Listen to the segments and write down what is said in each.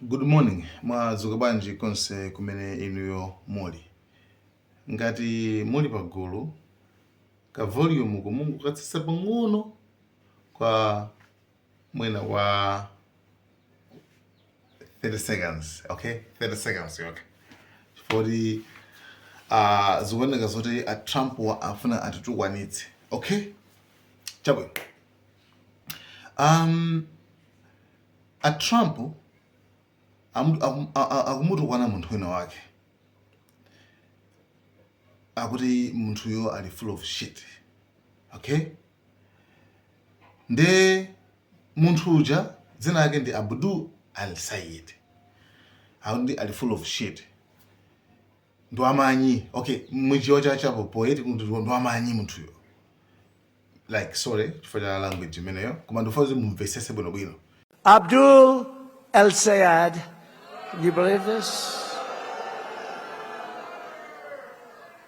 Good morning, mwadzuka bwanji konse kumene inuyo muli. Ngati muli pagulu, ka volume ko mungokatsitsa pang'ono kwa mwina wa 30 seconds, okay? 30 seconds, okay. Chifukwa uh, zikuoneka zoti a Trump wa afuna atitukwanitse, okay? Chabwino. Um, A Trump amu- akum- a- a- akumutukwana munthu wina wake akuti munthuyo ali full of shit okay nde munthu uja dzina lake ndi Abdul El Sayed akuti ali full of shit ndwamanyi ok muchichewa cha cha poetic kuti ndwamanyi munthuyo like sorry chifukwa cha language imeneyo koma ndikufuna kuti mumvetsetse bwinobwino Abdul El Sayed. Can you believe this?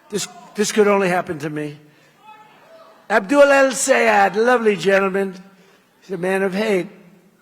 This, this could only happen to me. Abdul El Sayed, lovely gentleman. He's a man of hate.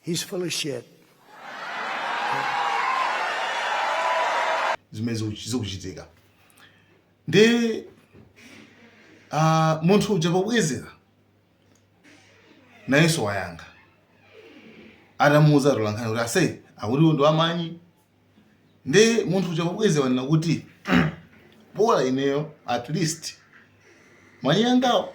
He's full of shit. zimene ziku- zikuchitika nde ah, munthu uja pobwezera nayenso wayankha atamuuza atolankhani kuti ase akuti uyu ndi wamanyi nde munthu uja pobwezera wanena kuti bola ineyo at least manyi angawo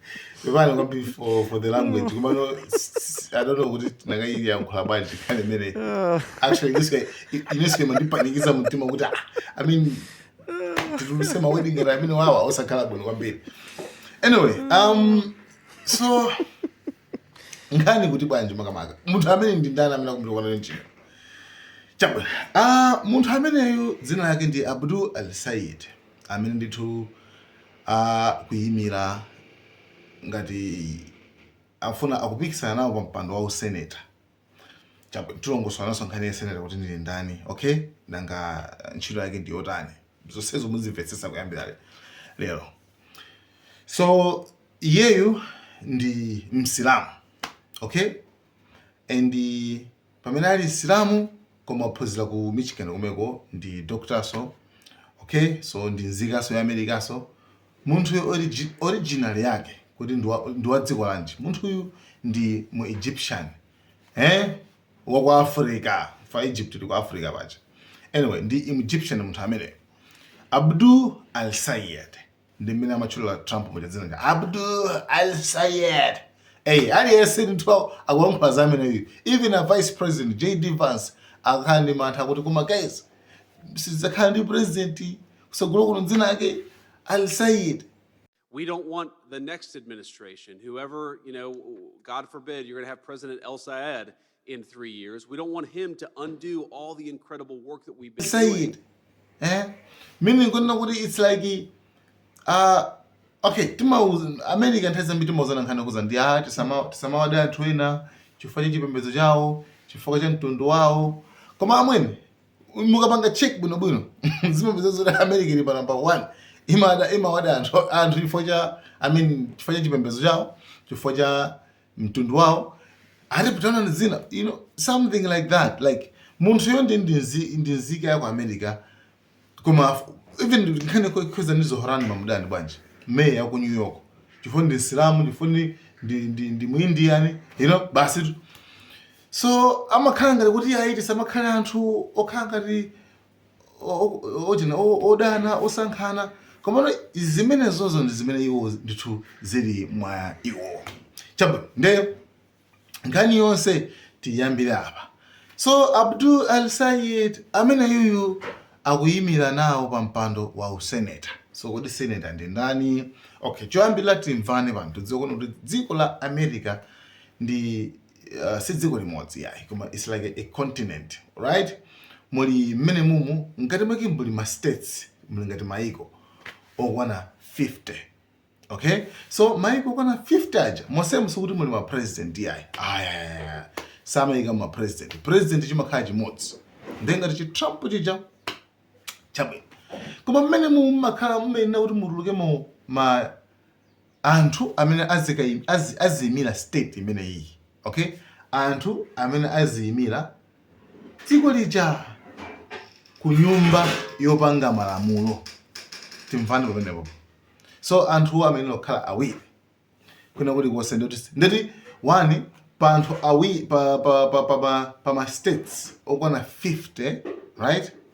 Pepani kwambiri for for the language. Koma no s- I don't know kuti ndikanayiyankhula bwanji kale mene. Actually this guy this guy wandipanikiza mtima kuti ah, I mean ndiluse ma wedding ngati amene wawa osakhala bwino kwambiri. Anyway, um so nkhani kuti bwanji makamaka. Munthu amene ndi ndani amene akumtukwana ndi chani. Chabwino. Ah, munthu ameneyu dzina lake ndi Abdul El Sayed. amene ndithu akuyimira ngati afuna akupikisana nawo pa mpando wa useneta tilongosolanso nkhani ya seneta kuti ndi ndani okay nanga ntchito yake ndi yotani zonsezo muzimvetsetsa kuyambira lero so iyeyu ndi msilamu okay and pamene ali msilamu koma waphunzira ku michigan komweko ndi doctorso okay so ndi nzikanso ya america so munthuyo origi, original yake kuti ndi wa- ndi wa dziko lanji munthuyu ndi mu egyptian eh wa ku africa fa egypt ndi ku africa paja anyway ndi egyptian munthu ameneyo Abdul El Sayed ndi mmene amatchulira Trump muja dzina lija Abdul Al Sayed eyi aliyense ndithu akulankhula za ameneyo even a vice president JD Vance akukhala ndi mantha kuti koma guys sitidzakhala ndi president kutsogolo kuno dzina lake Al Sayed we don't want the next administration, whoever, you know, God forbid, you're going to have President El Sayed, in three years. We don't want him to undo all the incredible work that we've been doing. Eh? Meaning, kunoko it's like, uh, okay, America nthawi zambiri timauzana nkhani yokhudza ndi tisamawade anthu ena chifukwa cha chipembedzo chawo chifukwa cha mtundu wawo koma amwene mukapanga check bwinobwino mumapeza zoti America ili pa number one imada imawada anthu anthu chifukwa cha I mean chifukwa cha chipembedzo chawo chifukwa cha mtundu wawo aliponso ndi zina you know something like that like munthuyo ndi ndi nzi- ndi nzika ya ku america koma f- even nkhani yokhudza ndi Zohran Mamdani bwanji meya ya ku new york chifukwa ndi msilamu chifukwa ndi ndi ndi, ndi muindiani you know basi tu. so amakhala ngati kuti ayi tisamakhala anthu okhala ngati ochina odana osankhana komano zimenezozo ndi zimene iwo ndithu zili mwa iwo chabwino nde nkhani yonse tiyambire apa so abdul al sayid ameneyuyu akuyimira nawo pa mpando wa useneta so kodi seneta ndi ndani okay choyambirira timvane pano tidziwe kuti dziko la america ndi uh, si dziko limodzi yayi koma it's like a, a continent right muli mmenemumu mkati mwake muli ma states muli ngati maiko okwana 50 okay so maiko okwana 50 aja mosemu sikuti muli ma president yayi ayayaya samayika ma president president chimakhala chimodzi nde ngati chi trump chija chabwino koma mmenemu mumakhala mumayenera kuti mutulukemo ma anthu amene azikaim, azi, aziimira state imeneyiyi okay, anthu amene aziimira dziko lija ku nyumba yopanga malamulo timvane pamenepo. So anthu amenewo amakhala awiri kwina kulikonse nde kuti nde kuti one pa anthu awiri pa pa pa pa, pa, pa ma states okwana 50 right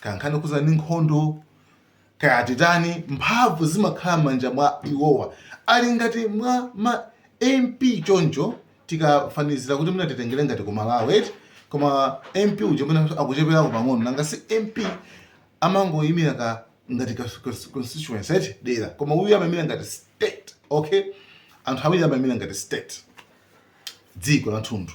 kaya nkhani yokhudzana ndi nkhondo kaya titani mphamvu zimakhala m'manja mwa iwowa ali ngati mwa ma MP choncho tikafanizira kuti mwina titengere ngati ku malawi eti koma mp uja mwina akucheperako pang'ono nanga si mp amangoyimira ka ngati ka cons- constituency eti dera koma uyu amayimira ngati state okay anthu awiri amayimira ngati state dziko lathunthu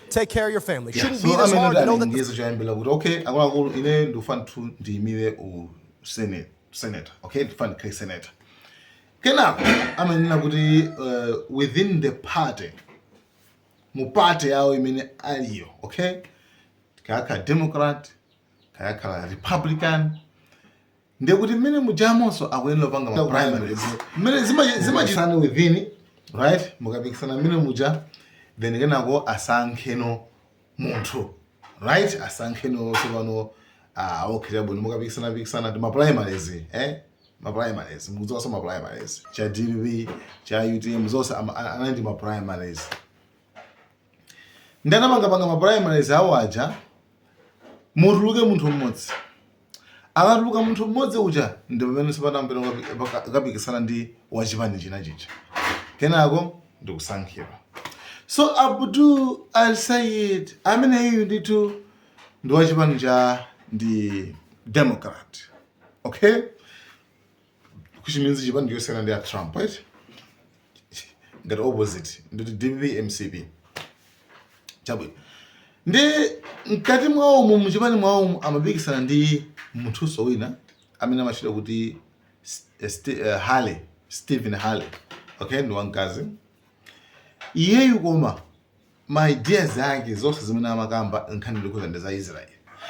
take care of your family. Yeah, Shouldn't be this hard to know that. Ndiyezo chayambira kuti okay akuluakulu ine ndikufuna tu ndiyimire u senate senator okay ndikufuna ndikhale senator. Kenako amanena kuti uh, within the party mu party yawo imene aliyo okay kayakhala democrat kayakhala republican ndiye kuti mmene mujamonso akuyenera kupanga ma primaries mmene zimachi- zimachitikira within right mukapikisana mmene muja then kenako asankheno munthu right asankheno tsopano ah, okay chabwino mukapikisana pikisana ndi ma primaries eh ma primaries mukudziwanso ma primaries za dpp za utm zonse ama- a- anali ndi ma primaries nde anapangapanga ma primaries awo aja mutuluke munthu mmodzi akatuluka munthu mmodzi uja ndi pameneno sopano ampeno akapikisana ndi wachipani china chija kenako ndikusankhidwa so abdul al sayid ameneyu ndithu ndi wachipani cha ndi democrat okay which means chipani chosiyana ndi a trump right ngati opposite nditi dpp mcp chabwino nde mkati mwawomo muchipani mwawomo amapikisana ndi munthunso wina amene amatchedwa kuti eh, Sti- eh, harley stephen harley okay ndi wamkazi iyeyu koma ma ideas ake zonse zimene amakamba nkhani yokhudza ndi za Israel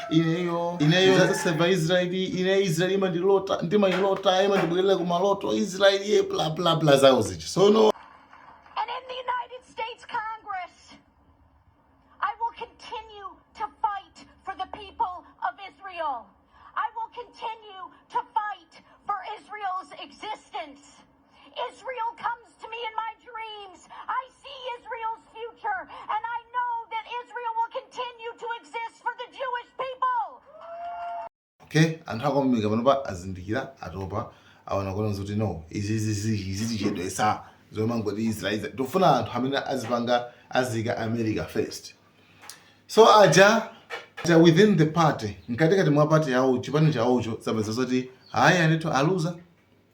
ineyo ineyo ndidzaseva Israel ine Israel imandilota ndimailota imandibwerera ku maloto Israel ye bla bla bla zawo zija so no And in the United States Congress, I will continue to fight for the people of Israel. I will continue to fight for Israel's existence. Israel comes to me in my dreams. I see Israel's future, and I know that Israel will continue to exist for the Jewish people. Okay, anthu aku America panopa azindikira atopa aonaona kuti no izi zikutichedwesa zomangoti israel tofuna anthu amene azipanga azika america first so aja aja within the party mkatikati mwa party yawo chipani chawocho zapeza zoti ayi anthu aluza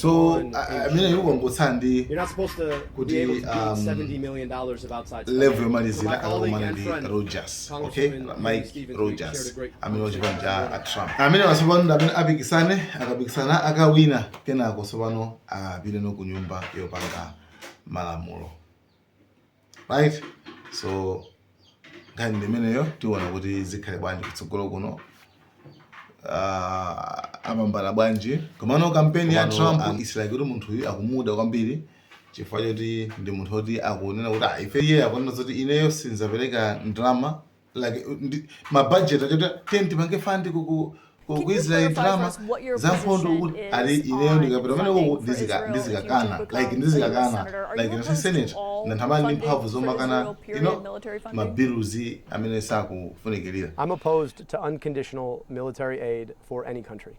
so amene yikungotsala ndi kuti um, level yomalizira akakumane ndi rogers okay mike rogers amene wachipani cha trump amene wasopano ndi amene apikisane akapikisana akawina kenako sopano apite no kunyumba yopanga malamulo right so nkhani ndi imeneyo tiona kuti zikhale bwanji kutsogolo kuno Ah, apambana bwanji komano kampeni ya trump um, isilaki kuti munthu uyu akumuda kwambiri chifukwa choti ndi munthu oti akunena kuti "Ah, ife iye akunena zoti ineyo sindzapereka ndalama like uh, ndi mabudget achoti tipange fund ku Israel ndalama za nkhondo ali ineyo ndikapita kumeneko ndizikakana like mu senate ndadzakhala ndi mphamvu zomakana mabiluzi amene sakufunikirira I'm opposed to unconditional military aid for any country.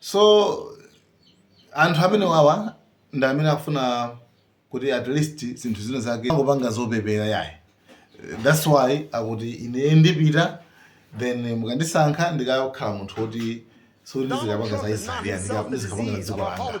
so anthu amene wawa ndi amene akufuna kuti at least zinthu zinazake asangopanga zopepera yayi that's why akuti ine ndipita then mukandisankha ndikakhala munthu woti sikuti ndizikapanga za israeli ndizikapanga za dziko langa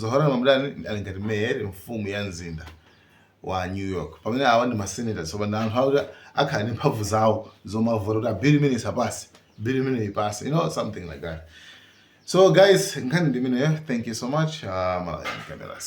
zohran mamdani ali ngati mayor mfumu ya mzinda wa new york pamene awa ndi masenators so pano anthu akhala ndi mphamvu zawo zomavota kuti bill imeneyi isapase bill imeneyi ipase you know something like that so guys nkhani ndi imeneyo thank you so much uh, malawi cameras